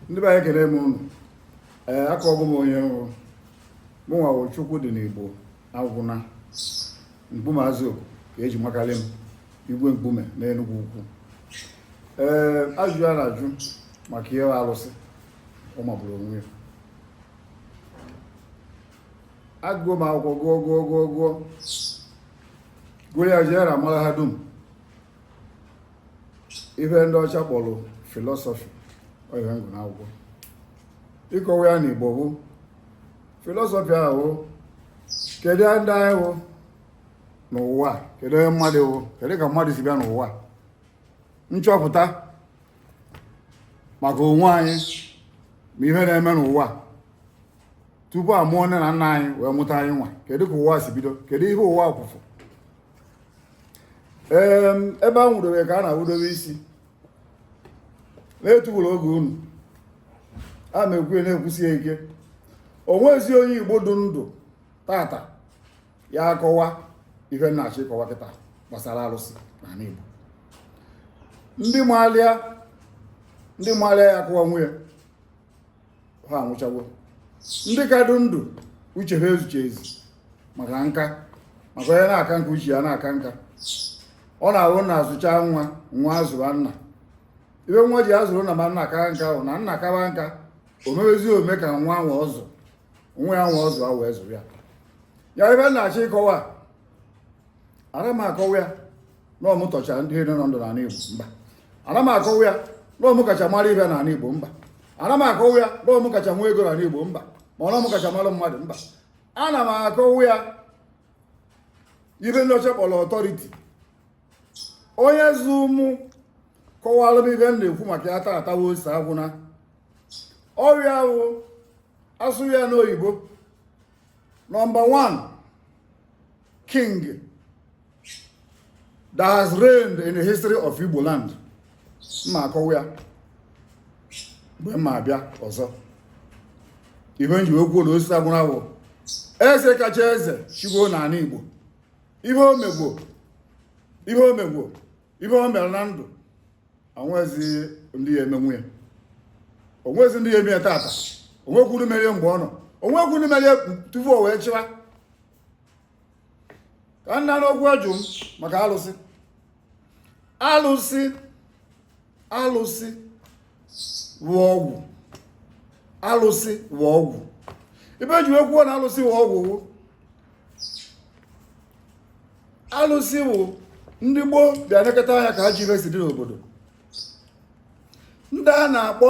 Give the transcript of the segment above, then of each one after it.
ndị be anyị ekele m ụnụ ee akọgo m onye m wụ mụnwa wụ Chukwudinigbo agwụna mkpume azụ ka eji makarị m igwe mkpume n'enugwu ukwu ee ajụjụ a na-ajụ maka ihe alụsị ọ magburu onwe ya agụgo m akwụkwọ gụọ gụọ gụọ gụọ gụọ ya jee na mahadum ihe ndị ọcha kpọrọ filọsọfị ọ ihe m gụ n'akwụkwọ ịkọwa ya n'igbo bụ filọsọfị ahụ kedu ndị anyị wụ n'ụwa kedu onye mmadụ wụ kedu ka mmadụ si bịa n'ụwa nchọpụta maka onwe anyị ma ihe na-eme n'ụwa tupu a mụọ nne na nna anyị wee mụta anyịnwa kedu ka ụwa si bido kedu ihe ụwa kwụfụ ebe a nwụdobe ka a na-awụdobe isi na-etugburu oge unu a na-ekwu na-ekwusi ike onwezi onye igbo dị ndụ tata ya-akọwa ihe m na-achọ ịkọwa kịta gbasara alụsị n'ala igbo ndị maalịa ndị maalịa ya-akọwanwu ya ha anwụchawo ndị ka dị ndụ uche ha ezuchazi maka nka maka onye na-aka nka uche ya na-aka nka ọ na-awụ nna zụchaa nwa nwa azụba nna ihe nwa ji azụ nna ma nna kaa nka wụ na nna kawa nka o mewezi ome ka nwa nwa ọ zụ nwa ya nwa ọ zụ ahụ wee zụba ya ya ihe m na-achọ ịkọwa ara m akọwa ya na ọ mụ tọchara ndị niile nọ ndụ n'ala Igbo mba ana m akọwa ya na ọ mụ kacha mara ihe n'ala Igbo mba ana m akọwa ya na ọ mụ kacha nwee ego n'ala Igbo mba ma ọ na ọ mụ kacha mara mmadụ mba ana m akọwa ya ihe ndị ọcha kpọrọ authority onye zụ mụ kọwara m ihe m na-ekwu maka ya tata wụ Osita Agwụna ọ ya wụ a sụọ ya n'oyibo number 1 king that has reigned in the history of Igbo land m ma-akọwa ya mgbe m ma-abịa ọzọ ihe m ji ekwu na Osita Agwụna wụ eze kacha eze chịgo n'ala Igbo ihe o mego ihe o mego ihe o mere na ndụ onwezi ndị ya-emenwu ya onwezi ndị ya-eme ya tata onwekwuru merie mgbe ọ nọ onwekwuru merie tupu o wee chịwa ka nna n'okwu ajụ m maka alụsị alụsị alụsị wụ ọgwụ alụsị wụ ọgwụ ibe e ji wee kwuo na alụsị wụ ọgwụ wụ alụsị wụ ndị gboo bịa nekọta anya ka ajọ ibe si dị n'obodo ndị a na-akpọ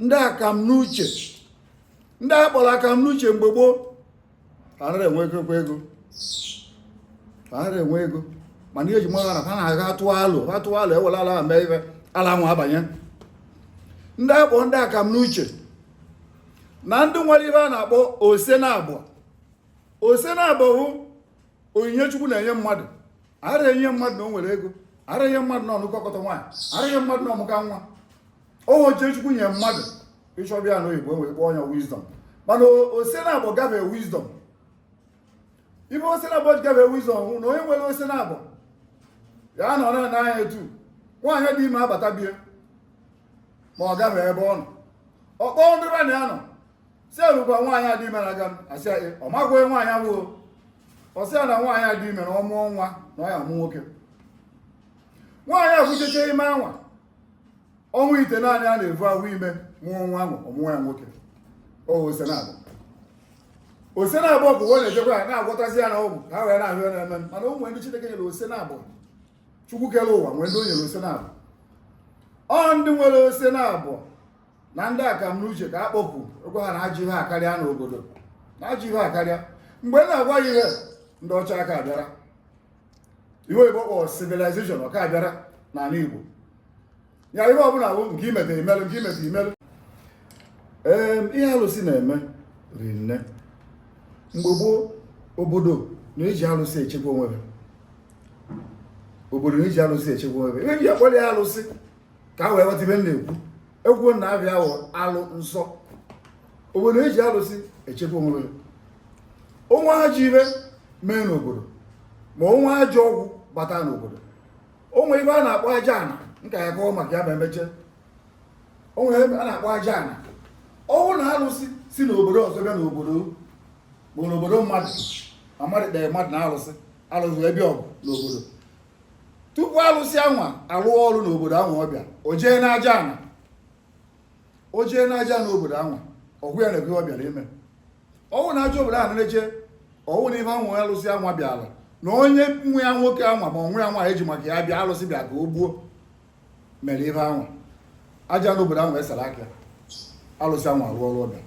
ndị akam n'uche ndị a kpọrọ akam n'uche mgbe gboo anara enwekekwa ego anara enwe ego mana ihe e ji mara na ha na-aga atụ alụ atụ alụ ewere ala mee ife ala nwa abanye ndị a kpọ ndị akam n'uche na ndị nwere ife a na-akpọ ose na abọ ose na abọ bụ onyinye chukwu na-enye mmadụ ara enye mmadụ na o nwere ego ara enye mmadụ na ọ nụkọkọta nwaanyị ara enye mmadụ na ọ mụka nwa ọ wụ uche chukwu nye mmadụ ị chọba ya n'oyibo wee kpọọ ya wisdom mana ose na abọ gafe wisdom ibe ose na abọ gafe wisdom wụ na onye nwere ose na abọ ya nọ na n'anya etu nwaanyị dị ime abata bịa ma ọ gafe ebe ọ nọ ọ kpọọ ndị be na ya nọ sị lekwa nwaanyị a dị ime na-aga a sị ya ọ makwaghị nwaanyị ahụ ọ sị ya na nwaanyị a dị ime na ọ mụọ nwa na ọ ya-amụ nwoke nwaanyị a vucheche ime anwa ọnwa itenaanị a na-evu afọ ime mụọ nwa ahụ ọ mụọ ya nwoke ose na abọ ose na abọ bụ onye na-ejekwa ya na-agwọtazi ya n'ọgwụ ka ha wee na-ahụ ya na-eme mana o nwee ndị Chineke nyere ose na abọ Chukwu kere ụwa nwee ndị o nyere ose na abọ ọ ndị nwere ose na abọ na ndị akamnuche ka a kpọpụ egwa ha na ajọ ihe akarịa n'obodo na ajọ ihe akarịa mgbe na-agwa ya ihe ndị ọcha aka abịara ibe oyibo kpọrọ civilization ọ ka abịara n'ala igbo ya ihe ọbụla bụ nke i meta i melụ nke i meta i melụ ee ihe alụsị na-eme ri nne mgbe gboo obodo na-eji alụsị echekwa onwe ha obodo na-eji alụsị echekwa onwe ha ihe ji akpọrọ ya alụsị ka a wee ghọta ibe m na-ekwu egwu na afa ya wụ alụ nsọ obodo na-eji alụsị echekwa onwe ha o nwee ajọ ihe mee n'obodo ma o nwee ajọ ọgwụ bata n'obodo o nwe ibe a na-akpọ aja ana m ka ya-akọ maka ya ma e meche o nwe ebe a na-akpọ aja ana ọ wụ na alụsị si n'obodo ọzọ bịa n'obodo bụ n'obodo mmadụ ma mmadụ kpere mmadụ na alụsị alụsị ebe ọgụ n'obodo tupu alụsị anwa alụọ ọrụ n'obodo anwa ọ bịa o jee n'aja ana o jee n'aja ana obodo anwa ọ gwa ya nekwe ọ bịara ime ọ wụ na aja obodo ahụ na-eche ọ wụ na ife anwụ alụsị anwa bịara na onye nwe ya nwoke anwa ma nwe ya nwa eji maka ya bịa alụsị bịa ka o gbuo mere ife anwa aja ana obodo ahụ esara aka alụsị anwa rụọ ọrụ ọ bịa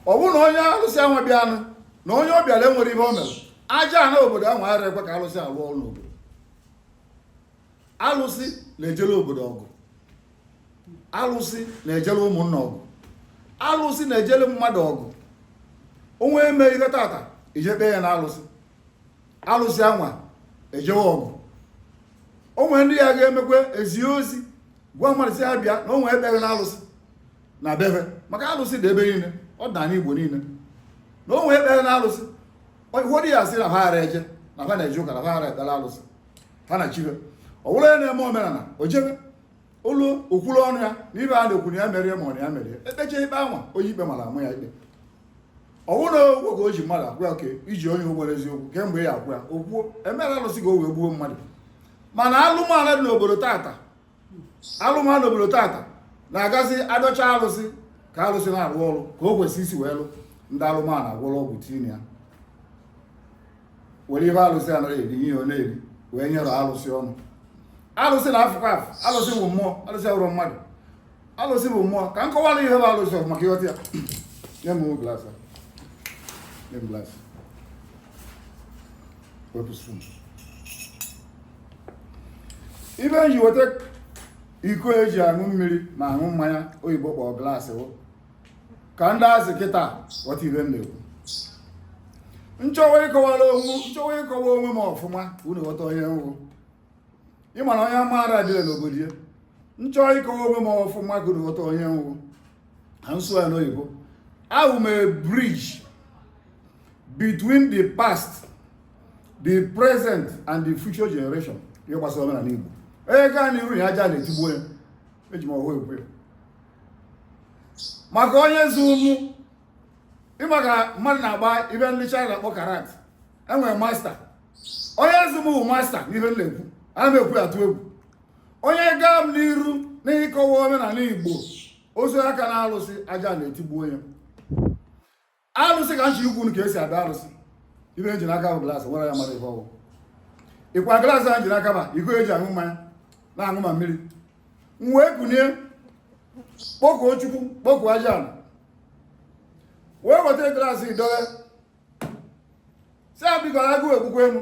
ọ bụrụ na onye alụsị anwa bịa anụ na onye ọ bịara enwere ihe o mere aja ana obodo ahụ ara ekwe ka alụsị lụọ ọrụ n'obodo alụsị na-ejere obodo ọgụ alụsị na-ejere ụmụnna ọgụ alụsị na-ejere mmadụ ọgụ o nwe eme ihe tata i je kpee ya na alụsị alụsị anwa ejewe ọgụ o nwe ndị ya ga-emekwa ezi ozi gwa mmadụ sị ha bịa na o nwe ekpere na alụsị na bebe maka alụsị dị ebe niile ọ dị n'Igbo niile na o nwe ekpere na alụsị ụfọdụ ya asị na ha ara eje na ha na-eje ụka na ha ara ekpere alụsị ha na chibe ọ bụrụ onye na-eme omenala o jebe o luo o kwuru ọnụ ya na ive a na-ekwu na ya mere ma ọ na ya mere e kpecha ikpe anwa onye ikpe mara a maa ya ikpe ọ wụ na ụgwọ ka o ji mmadụ agwa oke i ji onye ụgwọ eziokwu kemgbe ya agwa o kwuo emere alụsị ka o wee gbuo mmadụ mana alụmala dị n'obodo tata alụmala n'obodo tata na-agazi adọcha alụsị ka alụsị na-arụ ọrụ ka o kwesị isi wee lụ ndị alụmala agwọrọ ọgwụ tinye ya were ihe alụsị anaghị eri ihe ọ na-eri wee nyere alụsị ọnụ alụsị na-afụkwa afụ alụsị bụ mmụọ alụsị abụrọ mmadụ alụsị bụ mmụọ ka m kọwara ihe bụ alụsị ọfụma ka ị ghọta ya nye m glas nye m glas wepụ spoon ive m ji weta iko eji aṅụ mmiri ma aṅụ mmanya oyibo kpọrọ glaasị ka ndị azị kịta ghọta ive m na-ekwu m chọwa ịkọwara onwe m chọwa ịkọwa onwe m ọfụma ka unu ghọta onye m wụ ị ma na onye amụma ara adị ile n'obodo ya m chọ ịkọwa onwe m ọfụma ka unu ghọta onye m wụ ka m sụọ ya n'oyibo awụ m a bridge between the past the present and the future generation ihe gbasara omenala Igbo onye gaa n'iru ya aja ana etigbuo onye eji m ọhụụ ekwu ya maka onye zụ mụ ị ma ka mmadụ na-agba ive ndị China na-akpọ karate e nwere master onye zụ m bụ master n'ihe m na-ekwu ana m ekwu atụ egwu onye gaa m n'iru n'ịkọwa omenala Igbo ozu aka na alụsị aja ana etigbuo onye alụsị ka m chọ ikwu ka esi ada alụsị ive m ji n'aka bụ glaasị m were ya mara ife ọ wụ ọkwa glaasị a m ji n'aka bụ iko eji aṅụ mmanya na-aṅụ ma mmiri m wee kunie kpọkuo chukwu kpọkuo aja ala wee weta glaasị dowe sị ya biko agụụ egbukwa mụ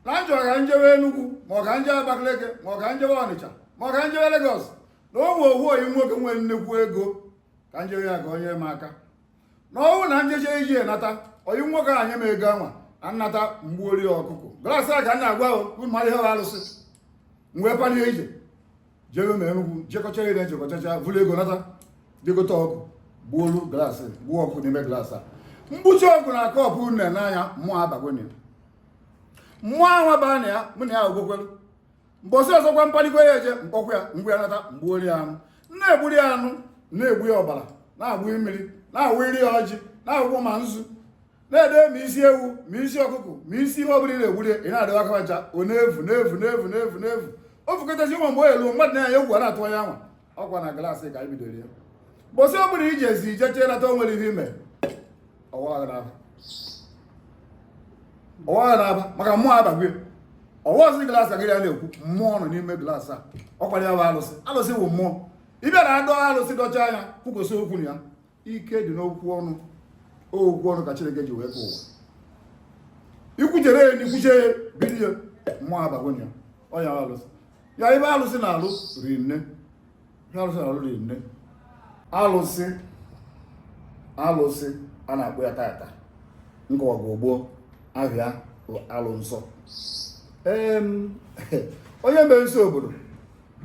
na m chọrọ ka m jewe Enugu ma ọ ka m jewe Abakaliki ma ọ ka m jewe Ọnịcha ma ọ ka m jewe Legọs na o nwe ohu oyi nwoke nwere nnekwu ego ka nje ya ka o nye m aka na ọ wụrụ na njeche ije nata oyi nwoke a nye m ego anwa na nnata mgbuori ọkụkụ glas a ka m na-agwa unu mara ihe arụsị m wee palie ije jebe ma enugwu jekọcha ije jekọchacha vuru ego nata dị gote ọkụkụ gbuolu glas gbuo ọkụkụ n'ime glas a mgbuchi ọkụ na aka ọkụ nne n'anya mmụọ abago mmụọ ahụ baa na ya mụ na ya ogbokwelu mbọsị ọzọkwa m palikwa ije m kpọkwa ya mgbe ya nata mgbuori ya anụ na-egburi ya anụ na-egbu ya ọbara na-agbụ mmiri na-awụri ya ọjị na-awụkwọ ma nzu na-ede ma isi ewu ma isi ọkụkọ ma isi ihe ọbụla ị na-egburi ị na-adịwa aka ncha ọ na-evu na-evu na-evu na-evu na-evu o vukatazi ụmụ mgbe o elu mmadụ nee anya egwu a na-atụ onye anwa ọkwa na glaasị ka anyị bidoro ya mbọsị ọ bụla i ji ezi jechee nata o nwere ihe i me ọwa agha n'aba ọwa agha n'aba maka mmụọ abagwe ọ wụrọzi glaasị ka gị na ya na-ekwu mmụọ nọ n'ime glaasị a ọkwanụ ya bụ alụsị alụsị bụ mmụọ ị bịa na-edo alụsị dochaa ya kwukwasị okwu na ya ike dị n'okwu ọnụ okwu ọnụ ka Chineke ji wee kee ụwa i kwuchere ya n'ikwuche ya bido ya mmụọ abagwonye ya ọ ya alụsị ya ive alụsị na-alụ rinne ive alụsị na-alụ rinne alụsị alụsị a na-akpọ ya tata nkọwa gị ogbo ahịa alụ nsọ onye mee nsọ obodo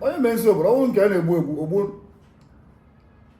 onye mee nsọ obodo ọ wụrụ nke a na-egbu egbu o gbuo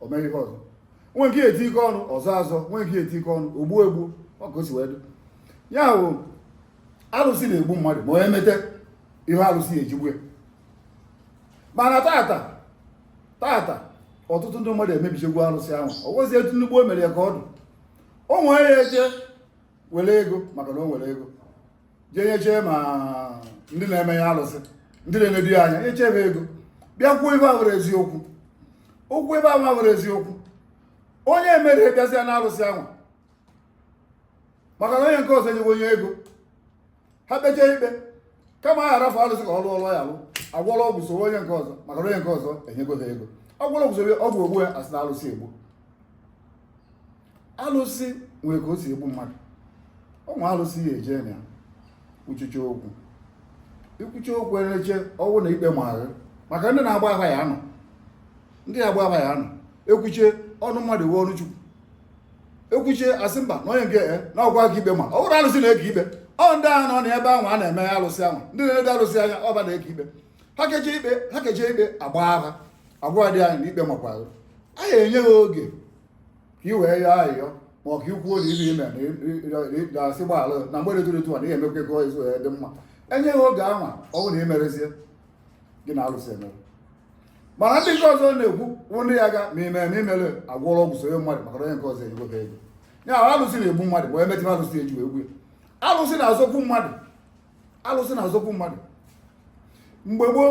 o mere ihe ọzọ nwe nke eti ike ọnụ ọzọ azọ nwe nke eti ike ọnụ o gbuo egbuo ọ ka o si wee dị ya bụ alụsị na-egbu mmadụ ma onye mete ihe alụsị eji egbu ya mana tata tata ọtụtụ ndị mmadụ emebichegwu alụsị ahụ ọ wụrọzi etu ndị gboo mere ya ka ọ dụ o nwere ya eje were ego maka na o nwere ego jee nyechee ma ndị na-eme ya alụsị ndị na-enedu ya anya nyechebe ego bịa kwuo ive awụrọ eziokwu o kwuo ive awụrọ eziokwu onye merie bịazịa na alụsị ahụ maka na onye nke ọzọ enyewe onye ego ha kpechee ikpe kama ha arafụ alụsị ka ọ lụọ ọlụ ọ ya-alụ a gwọrọ ọgwụ soro onye nke ọzọ maka na onye nke ọzọ enyego ha ego a gwọrọ ọgwụ soro ọgwụ egbuo ya a sị na alụsị egbu alụsị nwere ka o si egbu mmadụ ọ wụ alụsị ya-eje na uchichi okwu ikwuchi okwu ereche ọ wụrụ na ikpe ma gị maka ndị na-agba afa ya anọ ndị na-agba afa ya anọ ekwuchie ọnụ mmadụ wụ ọnụ Chukwu ekwuchie a sị mba na onye nke eh, na ọ wụ ya ka ikpe ma ọ bụrọ alụsị na-eke ikpe ọ ndị ahụ nọ n'ebe ahụ a na-eme alụsị ahụ ndị na-enedo alụsị anya ọ ba na-eke ikpe ha keche ikpe ha keche ikpe agbaa afa a gwa dị anyị na ikpe makwa ya enye ha oge ka i wee yọọ ayịyọ ma ọ ka ikwu ozi ihe i me na asị gbaghara na mgbede tụrụ etu a na ihe emekwa ego ezu ya dị mma enye gị oge anwa ọ bụrụ na imerezie gị na alụsị emere mana ndị nke ọzọ na-ekwu bụ ndị ya ga ma ime ma imere agwọrọ ọgwụ sonye mmadụ maka onye nke ọzọ egobe ego ya alụsị na-egbu mmadụ bụ emetụ alụsị eji wee gbu ya alụsị na-azọkwu mmadụ alụsị na-azọkwu mmadụ mgbe gboo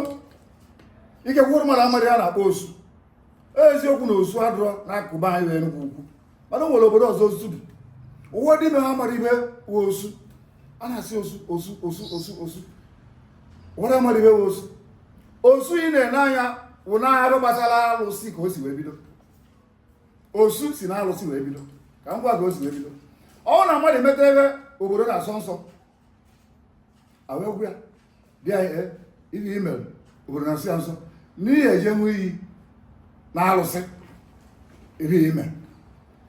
ike gwụrụ mmadụ amadị ya na-akpọ osu eziokwu na osu adịrọ n'akụkụ be anyị wee nnukwu okwu mana o nwere obodo ọzọ osu dị ụwa dị na ha mara ihe wụ osu a na-asị osu osu osu osu osu ụwa dị mara ihe wụ osu osu ị na-ene anya wụ na arụ gbasara alụsị ka o si wee bido osu si na alụsị wee bido ka m gwa gị o si wee bido ọ na mmadụ emeta ihe obodo na-asọ nsọ awekwa ya dị ya eh, ihe i mere obodo na-asọ ya nsọ na ị ya-eje ịṅụ iyi na alụsị ihe i mere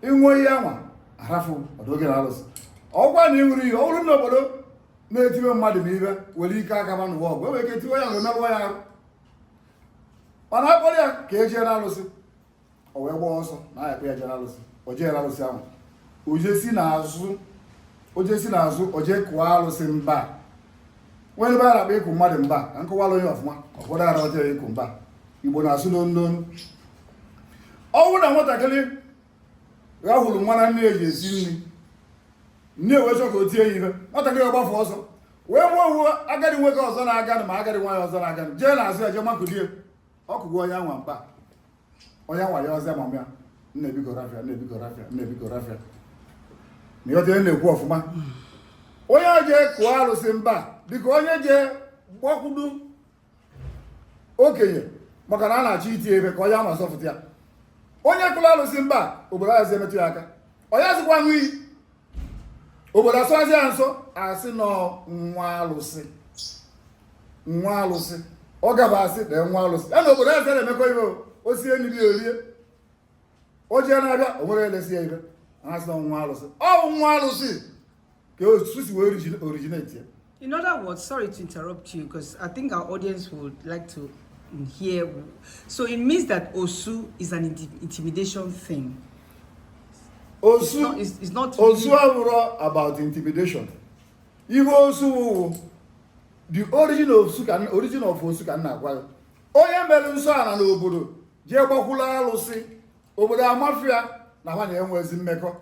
ị ṅụọ iyi anwa arafụ ọdụ oge na alụsị ọ kwa na ị ṅụrụ iyi ọ bụrụ na obodo na-etiwe mmadụ ihe e nwere ike aka ma n'ụwa ọgwụ enwere ike tiwe ya wee merụọ ya arụ mana akpọrọ ya ka e jee na alụsị o wee gbaa ọsọ na a ya-akpọ ya jee na alụsị o jee na alụsị ahụ o jee si n'azụ o jee si n'azụ o jee kụọ alụsị mba nwere ihe a na-akpọ ịkụ mmadụ mba ka m kọwaara unu ya ọfụma ọfọdụ ara ọjọọ ịkụ mba igbo na-asụ n'onu ọ bụrụ na nwatakịrị rahụrụ nwa na nne ya ji esi nri nne wee chọọ ka o tie ya ihe nwatakịrị agbafụ ọsọ wee fụ ofu agadi nwoke ọzọ na-aganụ ma agadi nwaanyị ọzọ na-aganụ jee n'azụ ya jee makudo ya ọ kụgo onye anwa mba onye anwa ya-asị mama ya nne biko rafụ ya nne biko rafụ ya nne biko rafụ ya na ị ghọta ihe m na-ekwu ọfụma onye jee kụọ alụsị mba dịka onye jee gbakwudo okenye maka na a na-achọ iti ya ihe ka onye anwa zọfụta ya onye kụrụ alụsị mba obodo ayazi emetụ ya aka ọ yazịkwa aṅụ iyi obodo asọzi ya nsọ a sị na ọ nwa alụsị nwa alụsị ọ gaba asị na nwa alụsị ya na obodo azị na-emekọ ihe o sie nri o rie o jee n'afịa o nwerọ elesi ya ihe a sị na nwa alụsị ọ bụ nwa alụsị ka osu si wee originate ya In other words, sorry to interrupt you because I think our audience would like to hear. So it means that Osu is an intimidation thing. Osu, it's not, it's, it's not Osu really... about intimidation. If Osu, the origin of Osu can, origin of Osu can na-agwa ya. Onye mere nsọ ala n'obodo jee gbakwula alụsị obodo amafụ ya na ha ama enwezi mmekọ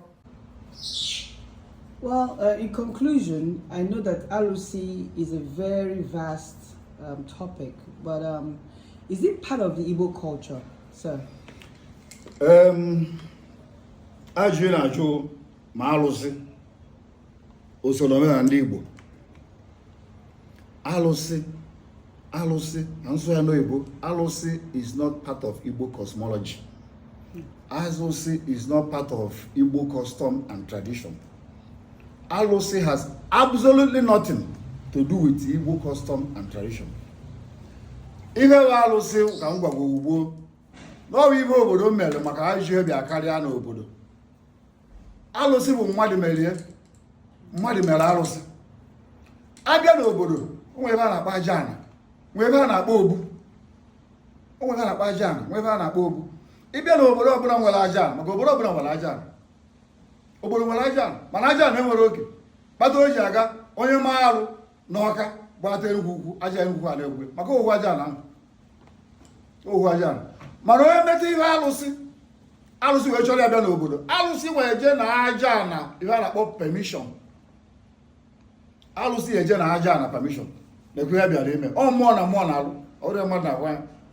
Well, uh, in conclusion, I know that Alusi is a very vast um, topic, but um, is it part of the Igbo culture, sir? Um, ajụ na-ajụ ma alụsị usoro omenala ndị Igbo alụsị alụsị na nsụ ya n'oyibo alụsị is not part of Igbo cosmology alụsị is not part of Igbo custom and tradition alụsị has absolutely nothing to do with Igbo custom and tradition ihe bụ alụsị ka m gwa gị ugbu a na ọ bụ ihe obodo mere maka ajọ ihe bịa karịa n'obodo alụsị bụ mmadụ mere ya mmadụ mere alụsị a bịa n'obodo o nwee ebe a na-akpọ aja ana nwe ebe a na-akpọ obu o nwee ebe a na-akpọ aja ana nwe ebe a na-akpọ obu ị bịa na obodo ọbụla nwere aja ana maka obodo ọbụla nwere aja ana obodo nwere aja ana mana aja ana enwerọ oke kpata o ji aga onye maa arụ n'ọka gbata enugwu ukwu aja enugwu a na-egwe maka ohu aja ana ohu aja ana mana onye meta ihe alụsị alụsị wee chọrọ ya bịa n'obodo alụsị wee jee na aja ana ihe a na-akpọ permission alụsị eje na aja ana permission na-ekwe ya bịara ime ọ mmụọ na mmụọ na-alụ ọrụ a mmadụ na-agwa ya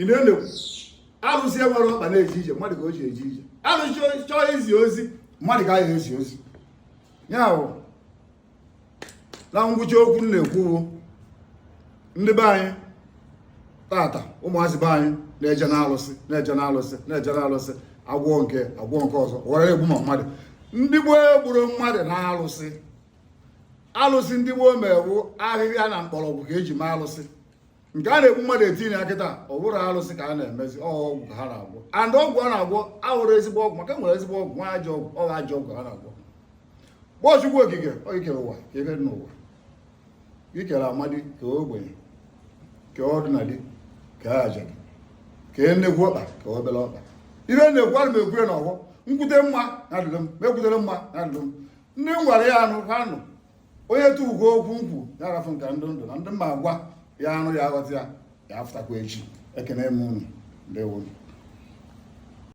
ị na-elekwu arụsị enwerọ ọkpa na-eje ije mmadụ ka o ji eje ije arụsị chọọ izi ozi mmadụ ka a ya-ezi ozi ya bụ na ngwụcha okwu m na-ekwu bụ ndị be anyị tata ụmụazị be anyị na-eje na alụsị na-eje na alụsị na-eje na alụsị agwọ nke agwọ nke ọzọ were egbu ma mmadụ ndị gboo egburọ mmadụ na alụsị alụsị ndị gboo mere wụ ahịhịa na mkpọrọgwụ ka e ji mee alụsị nke a na-egbu mmadụ etinye ya kịta ọ bụrọ alụsị ka a na-emezi ọgwụ ka ha na-agwọ and ọgwụ a na-agwọ abụrọ ezigbo ọgwụ maka e nwere ezigbo ọgwụ nwee ajọ ọgwụ ọ wụ ajọ ọgwụ ha na-agwọ kpọọ Chukwu okike i kere ụwa kee ihe dị n'ụwa i kere amadi kee ogbenye kee ọdịnadi kee ajadu kee nnekwu ọkpa kee obere ọkpa ihe m na-ekwu ana m ekwu ya n'ọgbọ m kwute mma na-adịrị m m ekwuterọ mma na-adịrị m ndị m gwara ya anụ ha nụ onye tụwugo okwu nkwu ya arafụ nke ndụ ndụ na ndị mma agwa ya anụ ya aghọta ya ya afụtakwa echi ekene m unu ndewo